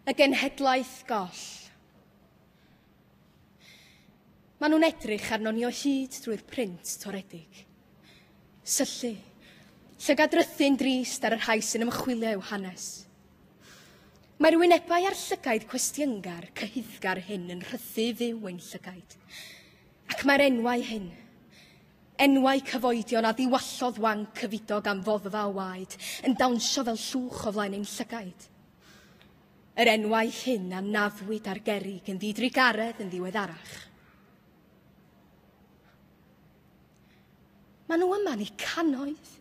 Y genhedlaeth goll. Maen nhw'n edrych arno ni o hyd drwy'r print toredig. Syllu, llygadrythu'n drist ar y rhai sy'n ymchwilio i'w hanes. Mae'r wynebau a'r llygaid cwestiyngar, cyhuddgar hyn yn rhythu fyw ein llygaid. Ac mae'r enwau hyn, Enwau cyfoedion a diwallodd wanc cyfudog am foddfa o waed yn dawnsio fel llwch o flaen ein llygaid. Yr enwau hyn a naddwyd ar gerrig yn ddidrugaredd yn ddiweddarach. Maen nhw yma ni cannoedd.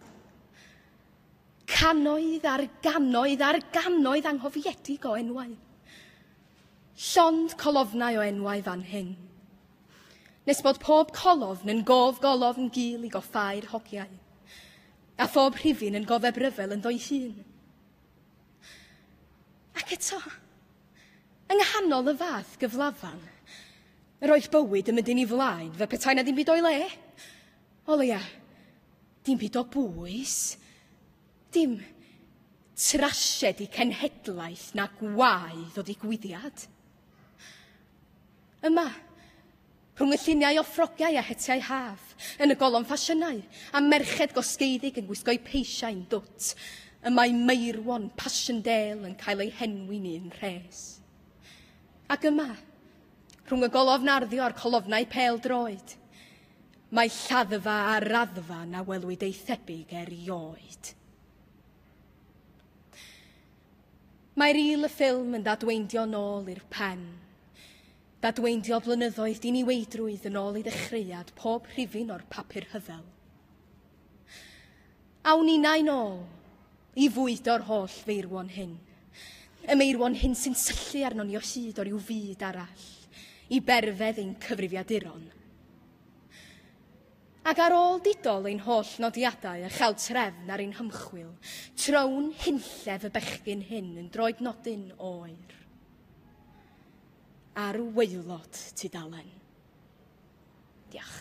Cannoedd ar gannoedd ar gannoedd anghofiedig o enwau. Llond colofnau o enwau fan hyn. nes bod pob colofn yn gof golofn gul i goffau'r hogiau, a phob rhifyn yn gofeb ryfel ynddo'i hun. Ac eto, yng nghanol y fath gyflafan, yr oedd bywyd yn mynd yn ei flaen fe petai na ddim byd o'i le. O leia, dim byd o bwys, dim trasiedi cenhedlaeth na gwaed o ddigwyddiad. Yma, rhwng y lluniau o ffrogiau a hetiau haf, yn y golofn ffasiynau, a merched gosgeiddig yn gwisgo'u peisiau'n dwt, y mae Meirwon Passchendaele yn cael ei henwi'n un rhes. Ac yma, rhwng y golofn arddio a'r colofnau pel droed, mae lladdfa a raddfa na welwyd ei thebyg erioed. Mae ril y ffilm yn ddadweindio nôl i'r pen. Dadweindio blynyddoedd diniweidrwydd yn ôl i ddechreuad pob rhifyn o'r papur rhyfel. Awn ninnau nôl i fwydo'r holl feirwon hyn. Y meirwon hyn sy'n syllu arnon ni o hyd o ryw fyd arall, i berfedd ein cyfrifiaduron. Ac ar ôl didol ein holl nodiadau a chael trefn ar ein hymchwil, trown hunllef y bechgyn hyn yn droed nodyn oer ar waelod tudalen. Diolch.